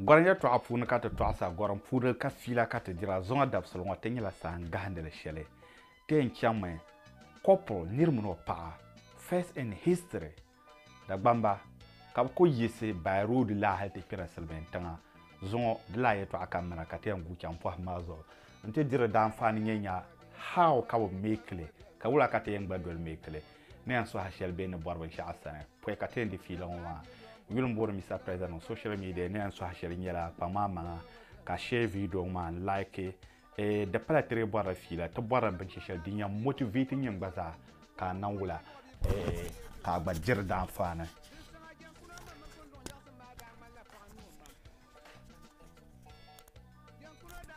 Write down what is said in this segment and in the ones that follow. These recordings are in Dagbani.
Gɔrim yɛltɔɣa puuni ka ti tɔɣisa gɔrim puuni ka fiila ka ti dira zuŋɔ dabisili ŋɔ ti nyɛla sahan gahindili shɛli ti yɛn chaŋmi couple niri mini o paɣa first in history Dagbamba ka bɛ kuli yiɣisi Bayi roodi la hali ti kpɛri Silimiin tiŋa zuŋɔ di la yɛltɔɣa ka m mina ka ti yɛn gu chaŋ pɔhim maa zuɣu nti diri daanfaani nyɛ nya how ka bɛ make li ka wula ka ti yɛn gba doli make li ni yɛn suhi shɛli bɛ ni bɔri binshɛɣu sani pɔi ka ti yɛn di fiila ŋɔ maa yuli m booni Mister President ŋɔ social media ni yɛn suhi shɛli nyɛla kpaŋ maa maŋa ka share video ŋɔ maa n like Eh, di pala ti dee bɔrila fiila, ti bɔrila binshɛ shɛli din yɛn motivate nyin gba zaa ka a niŋ wula eh, ka a gba diri di anfaani.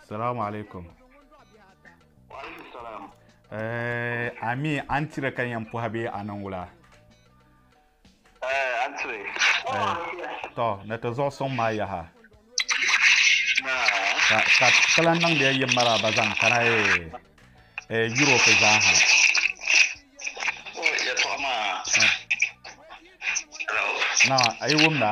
Salamu alaikum. Waalaikum salam. Eh, ami an tira ka yɛn pɔhi bee a niŋ wula? tɔ ni ti zuɣu suŋ maa yaha ka ti lahi niŋdi ya yi maraaba zaŋ kana yuropi zaa ha na a yi wumda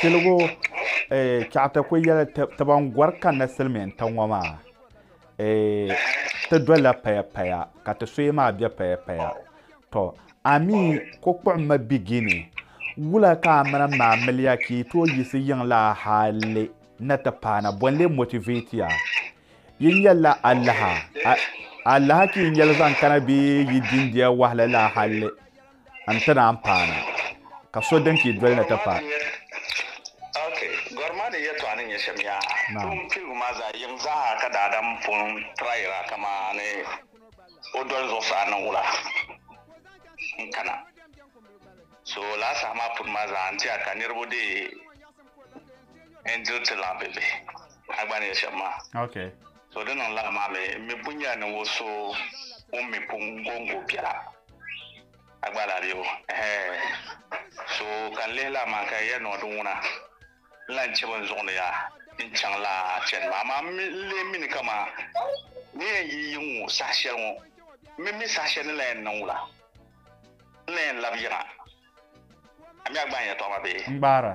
tiligu chɛɣita ku yɛli ti ban gɔri kanna silimiin tiŋ ŋɔ maa ti dolila paya paya ka ti suhi maa bɛ paya paya to ami ko kpuɣimma bigini wula ka a mini maa miliya ka yi tooi yiɣisi yiŋla hali na ti paana bɔnli motivate ya yi nyɛla alaha alaha ka yi nyɛli zaŋ kana bee yi dindiya wahala la hali an ti naan paana ka so din pii doli ni ti paai. Ok, gɔri maa ni yɛtɔɣa ni nyɛ shɛm yaha. Toon piligu maa zaɣ yiŋ zaaha ka daadam pun tirayira kamani o doli zuɣusaa ni wula n kana. So lala saha maa puni maa zaa n ti a ka niriba dee n diri ti laɣim be bihi. A gba ni yɛli shɛm maa. Ok. So di niŋ lala maa mi, m mi pun nyɛla ninvuɣ so ŋun mi pun gɔŋgo biɛla. A gba lahi be o? Ɛhɛɛ. So ka n lihi lala maa ka ya niŋ di ŋuna, n lan chɛ bɛn zuɣindi ya n-chaŋ lala chani maa. Amaa m mi n lee mi ni kaman ni yɛn yi yiŋ ŋɔ saha shɛli ŋɔ, m mi mi saha shɛli ni lan yɛn niŋ wula? N lan yɛn lab yiŋa? A mi a gbaai n yɛtɔɣa maa bee? N gbaar a.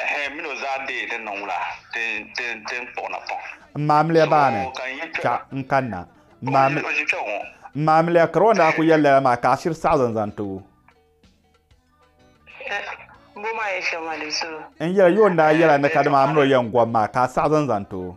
Ɛhɛ, min o zaa deei din niŋ wula, ti ni kpuɣi napɔŋ. M maamiliya baa ni, kpɛɣu n-kanna. M maamiliya karo n-daa ku yɛli lala maa ka a shiri saɣizi n-zaŋ ti o. N yɛli yo n-daa yɛla ni kadama a min o yɛn gɔbu maa ka a saɣizi n-zaŋ ti o.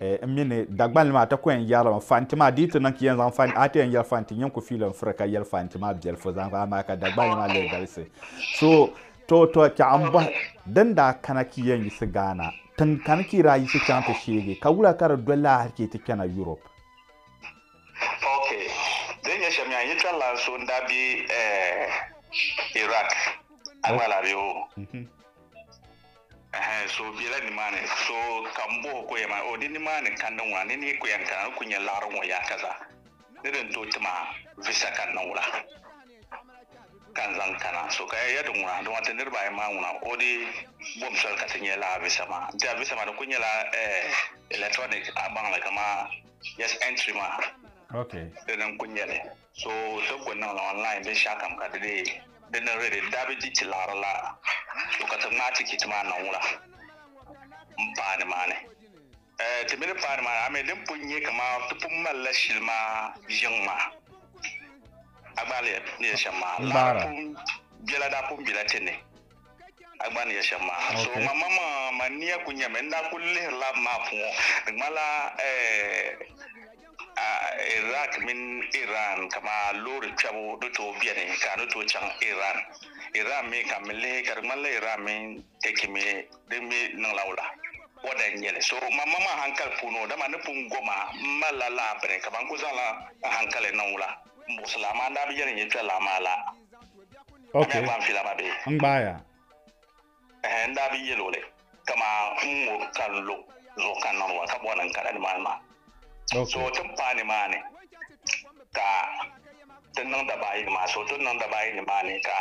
eh, n mini Dagbani maa ti ku yɛn yɛrila mi fanti maa di yi ti niŋ ka yɛn zaŋ fanti a ti yɛn yɛri fanti n yɛn ku fiili n firi ka yɛli fanti maa biɛlifu zaŋ amaa ka Dagbani maa lee galisi so to to chɛɣu n bɔhi din daa kana ka yɛn yisi Ghana tiŋ kani ka yi daa yisi chaŋ ti sheegi ka wula ka di doli laa hali ka yi ti kpɛna Europe ok din nyɛ shɛm yaa n yi kpɛri laa so n daa be eh, Iraq a gba laa be o mhm. Ɛhɛn, so o bela nimaani? So ka m bɔh o ka o yɛn maa? O, di nimaani ka n niŋ wuna, ni ni yi ku yɛn kana, n ku nya laɣiri ŋɔ yaaka zaa. Ni di ni tooi ti ma visa ka n niŋ wuna ka n zaŋ kana, so ka ya di ŋuna, dama ti niriba ayi maa ŋuna, o di bom soli ka ti nya lala visa maa. N-ti a visa maa di ku nyɛla eh, electronic a baŋ li kaman just entry maa. Okay. Dini n-ku nya li. So ti ku niŋ li online binshɛɣukam ka di be di ni ready daa bi di ti laɣiri la to ka ti ŋmaai tikiti maa niŋ wula m-paai nimaani? Eh, ti mi ni paai nimaani, ami din pun nyɛ kaman ti pun mali la shili maa yiŋ maa. A gbaari ya ni yɛli shɛm maa, laɣiri pun bela daa pun bela ti ni. A gba ni yɛ shɛm maa ha. So Okay. ma ma ma ma nia ku nyɛmi n daa ku lihiri lab maa puŋɔ di ŋmanila eh, ah, Iraq mini Iran kama loori kpɛbu di tooi beni ka di tooi chaŋ Iran Iran mi ka mi lihi ka di ŋmanila Iran mini Turkey mi di mi niŋla wula bɔda n nyɛli so ma ma ma hankali puuni o dama ni pun goma m malila lahabiri kama n ku zaŋla n hankali niŋ wula n buɣisi laa maa n daa bi yɛli n yi kpɛ laa maa la Ok, n gbaaya. Ɛhɛn, n daa bi yɛl o li, ka maa ŋun ŋɔ ka n lo zuɣu ka n niŋdi ba ka bɔri ni n kana nimaani maa. Ok. So ti ni paai nimaani ka ti niŋ dabaayi nimaani, so ti ni niŋ dabaayi nimaani ka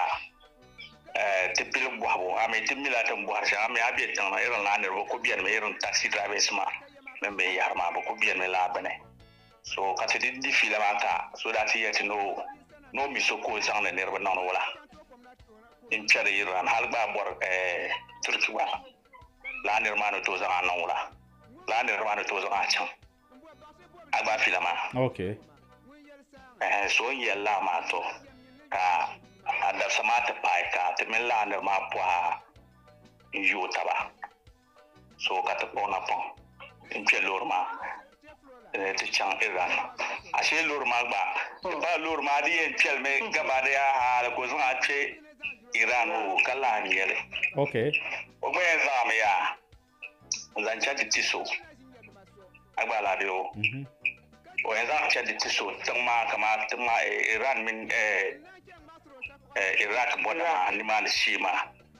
eh, ti pili bɔhibu. A mi ti mi la tin bɔhiri shɛŋa. A mi a be tiŋ ni irin a niriba ku benimi irin taxi drivers maa mini binyɛhiri maa, bɛ ku benimi laa bini. So ka ti di di fiila maa ka so daa ti yɛli ti ni o ni o mi so ka o zaŋdi niriba niŋdi wala din kpɛri Iran hali gba bɔri Turki gba laa niri maa ni tooi zaŋ a niŋ wala laa niri maa ni tooi zaŋ a chaŋ a gba fiila maa okay so n yɛli laa maa to ka a dabisa maa ti paai ka ti mini laa niri maa pɔha n yo taba so ka ti kpuɣi napɔŋ n-kpe loori maa ni ti chaŋ Iran. Ashee loori maa gba ti paai loori maa di yɛn kpeli mi gabaadaya hali ka o zaŋ a kpe Iran o ka lahi ŋme li. Okay. O gba yɛn zaŋ a mi yaa n-zaŋ chaŋ ti ti so a gba lahi be o. O yɛn zaŋ chaŋ ti ti so tiŋ maa kamani tiŋ maa Iran mini Iraq bɔda maa nimaani shee maa.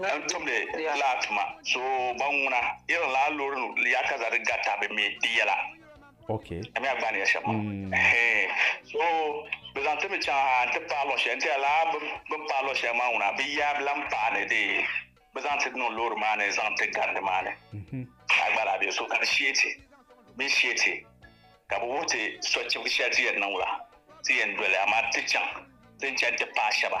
n tumdi laa tuma so ban ŋuna irin laa loori ya ka za di gata bi mi di yɛla okay ami agbani ya shɛba mm. he so bi zaŋ ti mi chaŋ ha n ti paai lɔɣu shɛli n tiya laa bin paai lɔɣu shɛli maa ŋuna bi ya bilan paai ni di bi zaŋ ti niŋ loori maa ni zaŋ ti garindi maa ni mhm. a gba laa bɛ so ka di sheeti bi sheeti ka bi wuhi ti sɔchibi shɛli ti yɛn niŋ la ti yɛn doli amaa ti chaŋ ti n chaŋ ti paai shɛba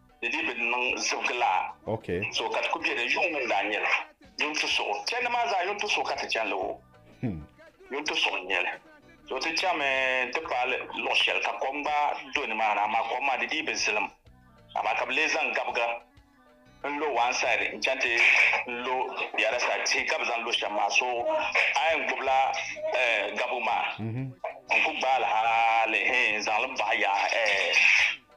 di dii bi niŋ zibigilaa so ka ti ku bɛ din yuŋ ŋun daa nyɛli yuŋ ti suɣu chɛndi maa zaa yuŋ ti suɣu ka ti chɛnli o yuŋ ti suɣu nyɛli so ti chɛmi ti paali luɣ shɛli ka kom gba do nimaani amaa kom maa di dii bi zilim amaa ka bi lee zaŋ gabiga n lo one side n chɛŋ ti lo the other side tihi ka bi zaŋ lo shɛm maa so a yɛn gbubila gabigu maa n ku gbaali hali n zaŋli baɣa yaɣa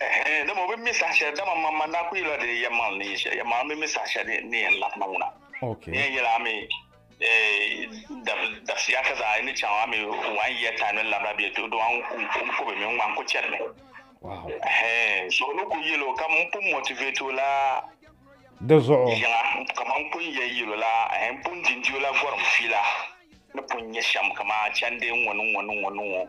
Ɛhɛn, dama o bi mi saha shɛli, dama man man daa ku yɛla di yɛmaŋli ni yɛ shɛli, yɛmaŋli bi mi saha shɛli ni yɛn lahi na ŋuna. Okay. Ni yɛn yɛla a mi dabisiya ka zaŋ a ni chaŋ a mi one year time ni labira bɛ to dɔɣi n ku bi mi ŋma n ku chɛri mi. Wow. Ɛhɛn, so ni ku yɛlo ka m pun motivate o la di zuɣu yiŋa kamani n pun yɛn yɛlo la ɛhɛn n pun dindi o la gɔrim fiila ni pun nyɛ shɛm kamani chandi n ŋɔ ni ŋɔ ni ŋɔ ni ŋɔ.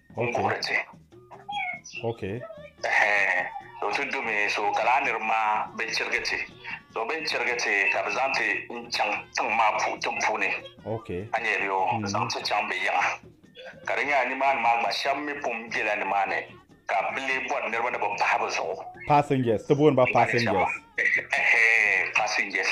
n kuhiri ti. Okay. Ɛhɛɛ, so ti dumi so ka laa niriba maa bi chirigi ti. So bɛ ni chirigi ti ka bɛ zaŋ ti n chaŋ tiŋ maa pu tiŋ puuni. Okay. A nyɛ bɛ o mm-hmm. zaŋ ti chaŋ bɛ yiŋa. Ka di nyɛla nimaani maa gba shɛba mi pun bela nimaani ka bɛ lee bɔri niriba ni bɛ pahi bɛ zuɣu. Passengers, ti booni ba passengers. Ɛhɛɛ, passengers.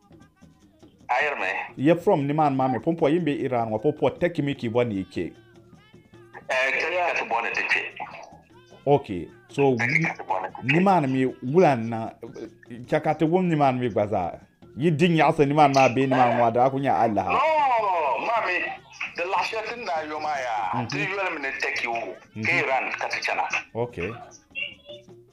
ayirimi yɛ from nimaani maa mi pumpɔ yin bɛ iran ŋɔ pumpɔ tɛki mi ki bɔ ni kpɛ tɛki ti bɔ ni ti kpɛ ok so nimaani mi wula n niŋ chɛ ka ti wum nimaani mi gba zaa yi di nyaɣasi nimaani maa bee nimaani ŋɔ daa ku nyɛ alaha maami di laɣashɛli ti ni daa yo maa yaa ti yolimi ni tɛki wu ka iran ka ti chana ok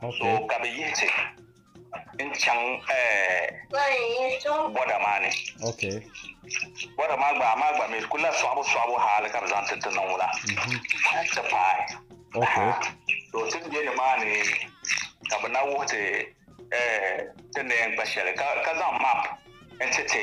So ka bɛ yihi ti n-chaŋ bɔda maa ni. Bɔda maa gba, amaa gba mi di kul la sɔɣibusɔɣibu haali ka bɛ zaŋ ti ti niŋ ŋuna nti paai. To ti ni be nimaani ka bɛ na wuhi ti ti ni yɛn kpa shɛli ka zaŋ map n-ti ti.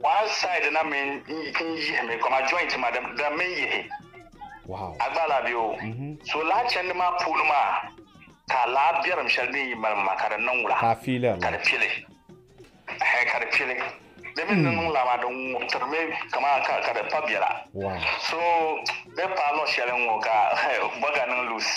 Wild side na mi n yihi mi kɔma joint ma di mi yihi a gba la bɛ o mhm. so laa chɛndi maa puuni maa ka laa biɛrim shɛli din yi mali ma ka di niŋ wula ka di pili ka di pili di mi ni mhm. niŋ laa maa di ŋubtiri mi kama ka di pa biɛla so bɛ paalɔ shɛli ŋɔ ka bɔga niŋ loose